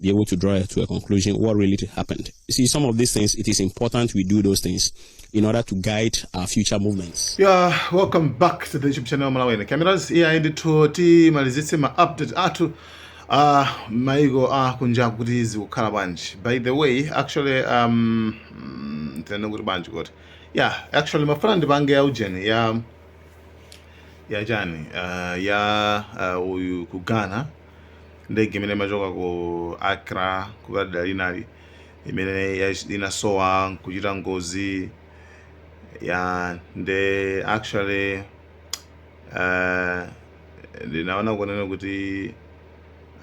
be able to draw to a conclusion what really happened. You see, some of these things, it is important we do those things in order to guide our future movements. Yeah, welcome back to the YouTube channel Malawi. Cameras here in the TOT, malizitse ma update atu. Uh, maigo ah kunja kuti zikukhala bwanji by the way actually um mm, tene kuti bwanji kuti yeah actually mafuna ndipange ya ujeni ya ya jani uh, ya uh, uyu kugana ndege imene imachoka ku Accra kupita dera linali imene ya- inasowa nkuchita ngozi ya nde actually uh, ndinaona kunena kuti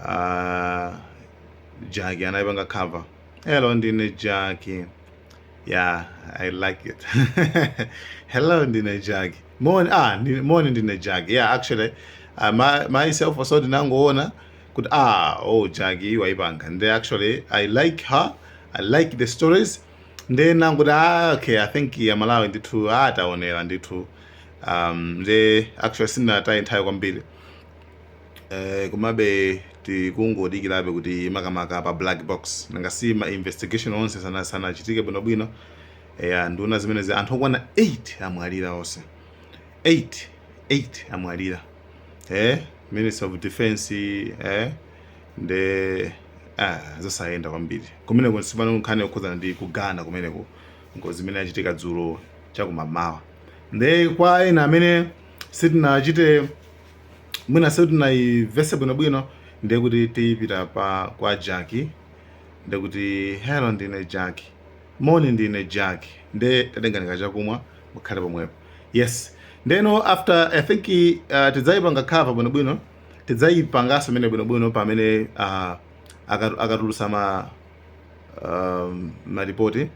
uh, Jackie anayipanga cover hello ndine Jackie yeah i like it hello ndine Jackie Moni ah ndi moni ndine Jackie yeah actually uh, my, myself also ndinangoona kuti ah oh Jackie waipanga nde actually i like her i like the stories nde nangoti ah okay i think aMalawi ndithu ataonera ndithu um nde actually sindinataye nthawi kwambiri eh komabe tikungodikirabe kuti makamaka pa black box nanga si ma investigation onse sana sanachitike bwinobwino eya nduna zimenezi anthu okwana 8 amwalira onse 8 8 amwalira eh minister of defense eh nde ah zosayenda kwambiri kumeneko tsopano nkhani yokhudzana ndi ku Ghana kumeneko ngozi imene yachitika dzulo chakumamawa nde kwa ena amene sitinachite mwina sitinayimvetse bwinobwino nde kuti tipita pa kwa Jackie nde kuti hello ndine Jackie Moni ndine Jackie nde tatengani kachakumwa mukhale pomwepo yes ndeno after I think uh, tidzaipanga cover bwinobwino tidzaipanganso imene bwinobwino pamene uh, akatu- akatulutsa ma um, maripoti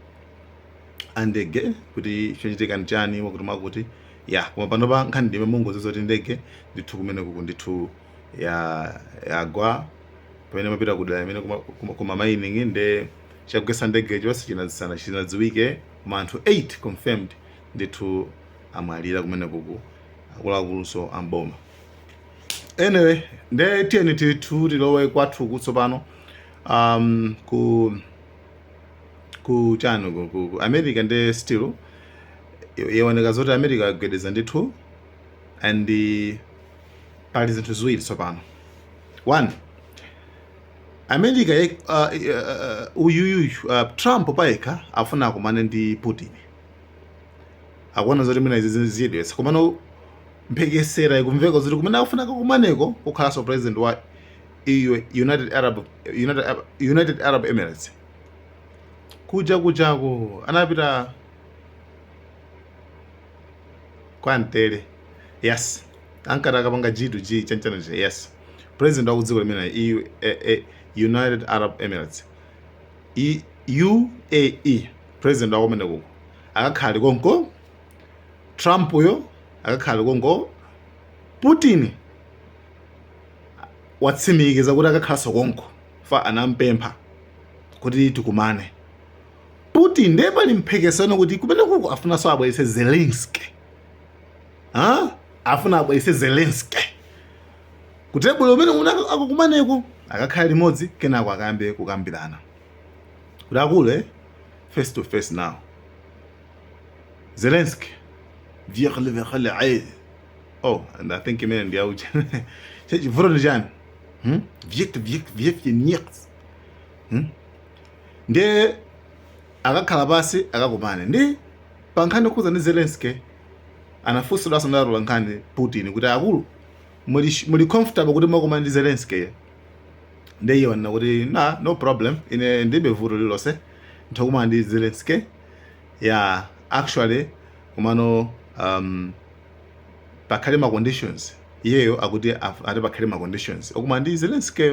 andege kuti chochitika ndi chani mwakuti mwakuti ya koma panopa nkhani ndime mungodziwa zoti ndege ndithu kumenekuku ndithu ya yagwa pamene imapita kudera imene kuma, kuma, kuma mining nde Chagwetsa ndegecho sichinadziwike koma anthu 8 confirmed ndithu amwalira kumenekuku akuluakulunso a m'boma. Anyway, nde tiyeni tithu tilowe kwathuku tsopano um, ku ku chani ku, ku, ku America nde still yaoneka zoti America agwedeza ndithu and pali zinthu ziwiri tsopano one America ye, uh, uh, uyuyu uh, Trump payekha afuna akumane ndi Putin akuona zoti mwina izi zichedwetsa komano mphekesera ikumveka zoti kumene akufuna akakumaneko kukhalanso president wa EU, United Arab, United, United Arab Emirates kuja kujako anapita kwa mtele yes ankati akapanga G2G chanchana chija yes president wa kudziko limene UAE United Arab Emirates UAE president wa kumene kuko akakhala ali konko Trump yo akakhala ali konko Putin watsimikiza kuti akakhalanso konko fa anampempha kuti tikumane Putin ndiye pali mphekesano kuti kumene kuko afunanso abweretse Zelensky ha? afuna abwerese zelenski kutebulo umene una akukumaneko akakhala limodzi kenako akambe kukambirana kuti akulu eh? face to face now zelenski vyekhale vyekhale ayi oh and i think imene ndiyaucha chechivuto ndi chani hmm? vyek vyek vyek vye nix hmm? ndiye Akakhala pansi akakumane ndi. Pa nkhani yokhudza ndi Zelenskyy anafunsidwanso ndi atolankhani Putin kuti akulu muli comfortable kuti mukakumane ndi Zelenskyy nde iye wanena kuti na no problem ine ndilibe vuto lililonse nditha kukumana ndi Zelenskyy ya actually komano um, pakhale ma conditions iyeyo akuti af- ati pakhale ma conditions okumana ndi Zelenskyy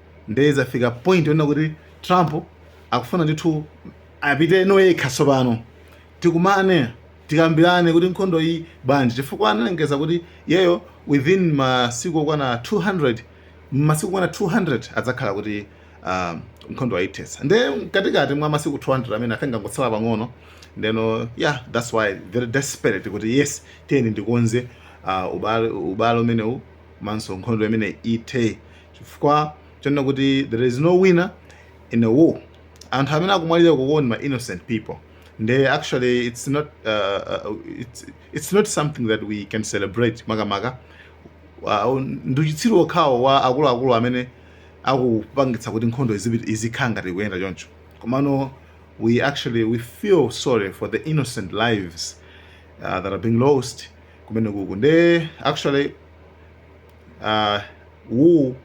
nde izafika point yonena kuti trump akufuna ndithu apite no yekha tsopano tikumane tikambirane kuti nkhondo iyi bwanji chifukwa analengeza kuti yeyo within masiku okwana 200 masiku okwana 200 adzakhala kuti uh, nkhondo ayithetsa nde mkatikati mwa masiku 200 amenewa I think angotsala pang'ono ndeno yeah that's why very desperate kuti yes tiyeni ndikonze uh, ubale ubale umenewu komanso nkhondo imene ithe chifukwa chonena kuti there is no winner in a war anthu amene akumwalira kuno ndi ma innocent people nde actually it's not uh, uh, it's, it's not something that we can celebrate makamaka uh, ndi uchitsiru wokhawo wa akuluakulu amene akupangitsa kuti nkhondo izipi- izikhala ngati ikuyenda choncho komano we actually we feel sorry for the innocent lives uh, that are being lost kumene kuku nde actually uh, war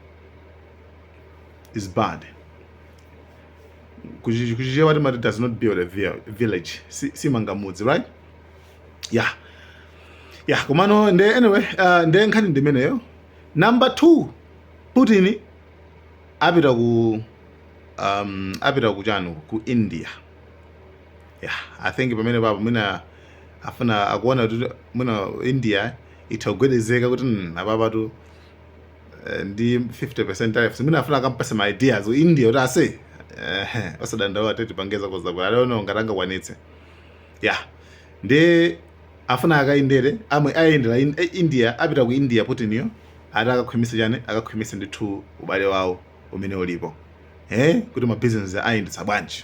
is bad ku Chichewa timati does not build a village simanga mudzi right yeah yeah komano nde anyway uh, nde nkhani ndimeneyo number two putin apita ku um, apita lachisanu ku india yeah i think pamene papo mwina afuna akuona kuti mwina india itha kugwedezeka kuti mm, apapatu eh, ndi 50% tariffs mwina afuna akampatse ma ideas ku india kuti ase eh, osadandaula tete pangeza kozakwera I don't know ngati angakwanitse ya nde afuna akayendere amwenye ayendera in- eh, india apita ku india Putin yo ati akakhwimise chani akakhwimise ndithu ubale wawo umene ulipo eh, kuti mabizinesi ayendetsa bwanji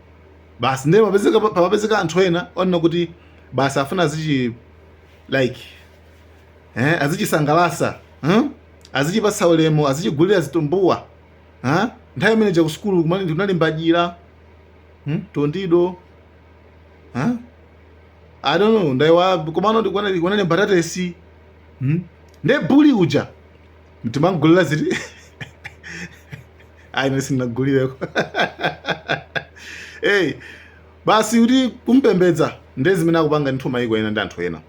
basi ndiye papezeka papezeka anthu ena onena kuti basi afuna azichi like eh, azichisangalasa huh? azichipatsa ulemu azichigulira zitumbuwa huh? nthawi imene ja kusukulu kumali ndikunalimbajira hmm? tondido huh? i don't know ndaiwala komano ndikunalimba tatesi hmm? nde buli uja nkumamgulira ziti ayi ine sindinagulireko eyi basi kuti kumpembedza nde zimene akupanga ndithu mayiko ena ndi anthu ena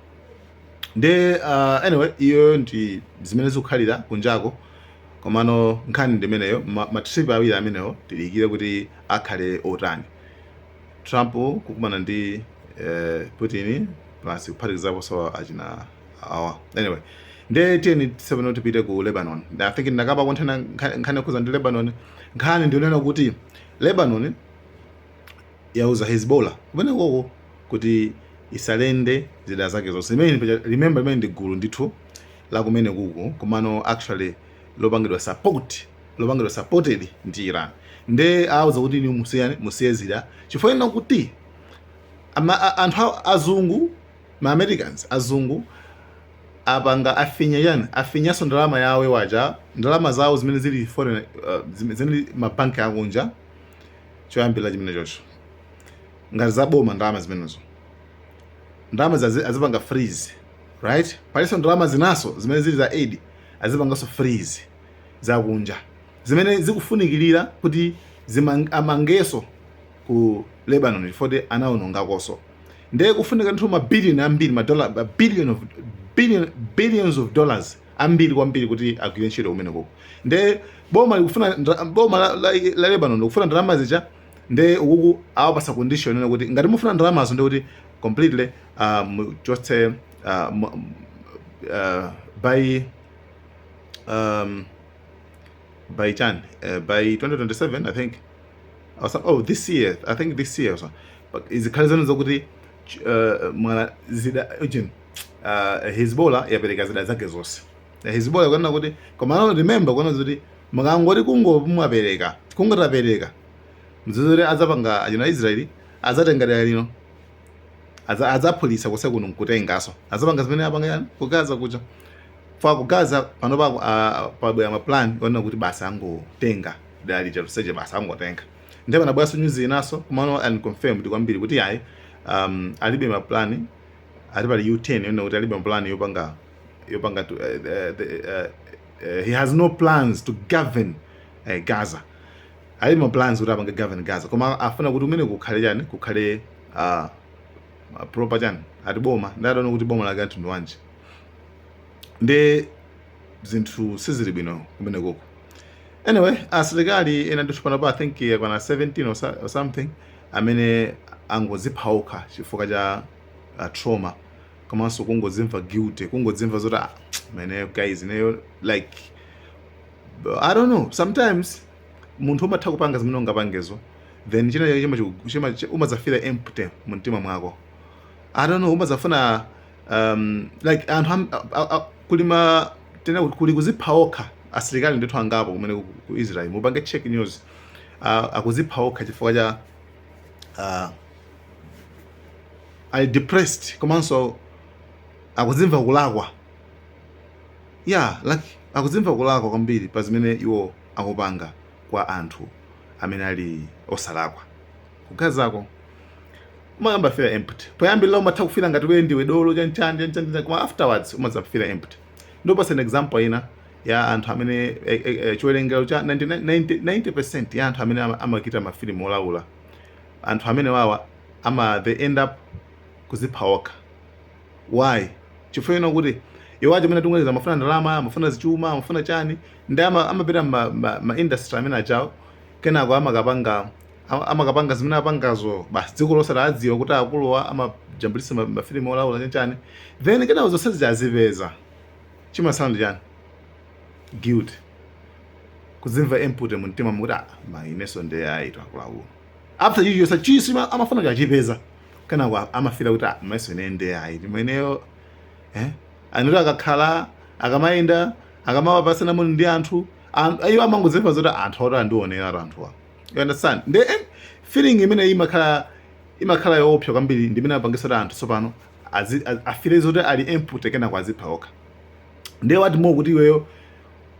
nde uh, anyway iyoyo ndi zimene zikukhalira kunjako komano nkhani ndi imeneyo ma- matrip awiri amenewo tidikire kuti akhale otani trump kukumana ndi eh, putin plus kuphatikizaponso achina awa anyway nde tiyeni tsopano tipite ku lebanon i think ndinakambako mnthena nkhani yokhuza ndi lebanon nkhani ndi yonena kuti lebanon yauza hezbollah kumene koko kuti i-surrender zida zake zonse imene paja- remember limene ndi gulu ndithu la kumene kuko komano actually lopangidwa support lopangidwa supported ndi iran nde auza kuti ni musiyane musiye zida chifukwa chonena kuti ama, a, anthu a- azungu Ma Americans, azungu, apanga afinya chani? Afinyanso ndalama yawo waja ndalama zawo zimene zili foreign, uh, zili ma bank akunja choyambirira chimene chocho ngati za boma ndalama zimenezo ndalama zazi azipanga freeze right paliso ndalama zinaso zimene zili za aid azipangaso freeze za kunja zimene zikufunikirira kuti amangeso ku Lebanon chifukwa anawonongakonso ndiye kufunika ndithu ma billion ambiri ma dollar ma billion of billion billions of dollars ambiri kwambiri kuti agwire ntchito kumene koko ndiye boma likufuna boma la, la, la Lebanon likufuna ndalama zija ndiye ukuku awapasa condition ina kuti ngati mufuna ndalamazo ndiye kuti completely uh, muchotse uh, uh, by um, by chani uh, by 2027 i think awasa oh this year i think this year also but izikhale zanu zokuti uh, ma zida ujin uh, hezbollah yapereka zida zake zonse Eh, hezbollah ikunena kuti koma no remember kunena kuti mukangoti kungomwapereka kungotapereka zidazi azapanga achina israeli azatenga dera lino Aza- azaphulitsa konse kuno nkutengaso azapanga zimene apanga yani ku Gaza kuja chifukwa ku Gaza panopa ah, pabwera maplan onena kuti basi angotenga dera lija lonselo basi angotenga ndipo anabweranso nyuzi inanso komano unconfirmed kwambiri kuti ayi um, alibe mapulani ati pali u10 yonena kuti alibe mapulani yopanga yopanga to, uh, uh, the, uh, uh, he has no plans to govern uh, gaza alibe ma plans kuti apange govern gaza koma afuna kuti kumene kukhale chani kukhale uh, proper chani ati boma ndadaona kuti boma lake la mtundu wanji nde zinthu sizili bwino kumenekoko anyway asilikali ena ndithu panopa i think yakwana 17 or, so- or something amene angozipha okha chifukwa cha uh, trauma komanso kungozimva guilty kungozimva zoti ah, man guys ineyo like i don't know sometimes munthu umatha kupanga zimene ungapangezo then china chake chima- chima- chima- umadzafila empty mu mtima mwako i don't know umadzafuna um, like anthu am- a- a- a- kuli ma tinene kuti kuli kuzipha okha asilikali ndithu angapo kumene ku- ku israel mupange check news Ah, akuzipha okha chifukwa cha ah, ali depressed komanso akuzimva kulakwa ya like akuzimva kulakwa kwambiri pa zimene iwo akupanga kwa anthu amene ali osalakwa ku Gazako umayamba feel empty poyambirira umatha kufila ngati iweyo ndiwe dolo chanchani chanchani chanchani, koma afterwards umadza feel empty ndikupatsa an example ina ya anthu amene eh, eh, eh, chiwerengero cha 90%, 90, 90% ya anthu amene ama- amachita mafilimu olaula anthu amenewawa ama they end up kuzipha okha why chifukwa ina kuti iwo aja amene tinganene amafuna ndalama amafuna zichuma amafuna chani ndi ama- amapita ma, ma, ma industry amene ajawo kenako amakapanga Ama- amakapanga zimene apangazo basi dziko lonse laadziwa kuti akuluwa amajambulitsa ma- mafilimu olaula chanchani then kenako zonse zija azipeza chimatsala ndi chani guilt kuzimva empty mu mtima mokuti "Ah, ma inenso ndi ayitu akuluakulu after chija chonse chija ama- amafuna kuti achipeza kenako a- amafila kuti "Ah, mayeso ine ndi ayi timeneyo eh? anthu oti akakhala akamayenda akamapatsana moni ndi anthu an- iwo amangodzimva zoti anthu oti andionera anthuwa you understand nde eh, feeling imene ija imakhala imakhala yoopsa kwambiri ndi imene imapangitsa kuti anthu tsopano azi- a- afile zoti ali empty kenako azipha okha ndiye oti mokuti iweyo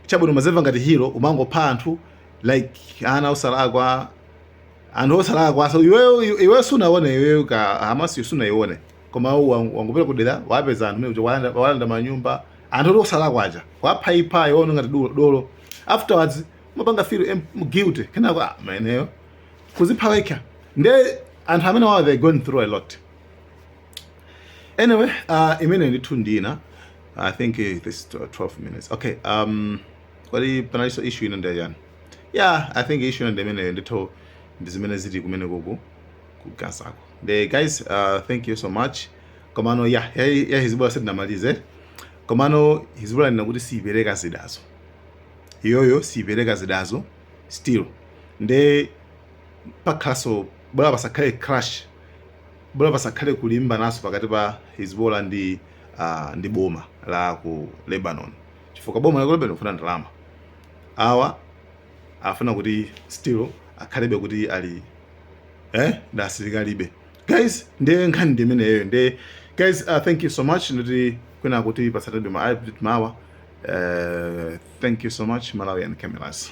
chabwino umadzimva ngati hero umangopha anthu like ana osalakwa anthu osalakwa so iweyo iweyo sunaone iweyo ka Hamas sunaione koma iwe wang- wangopita kudera wapeza anthu mokuti walanda walanda manyumba a anthu oti osalakwa aja waphaipha iwe uona ngati dolo- dolo afterwards mapanga feel em- m- guilty kenako ah, mayeneyo kuzipha wekha nde anthu amene wawa they going through a lot anyway uh, imene ndithu ndina i think eh, this tw- 12 minutes okay um kodi panaliso issue ina ndi yachani yeah i think issue ina ndi imene ndithu ndi zimene zili kumeneku ku Gazako nde guys uh, thank you so much komano ya ya, ya Hezbollah sitinamalize komano Hezbollah yanena kuti siipereka zidazo iyoyo siipereka zidazo still nde pakhalaso bola pasakhale crash bola pasakhale kulimbanaso pakati pa Hezbollah ndi uh, ndi boma la ku Lebanon chifukwa boma la ku Lebanon kufuna ndalama awa afuna kuti still akhalebe kuti ali eh ndi asilikalibe guys nde nkhani ndi imeneyo nde guys uh, thank you so much ndoti kwina tikupatsanibe ma update mawa uh, thank you so much Malawian Cameras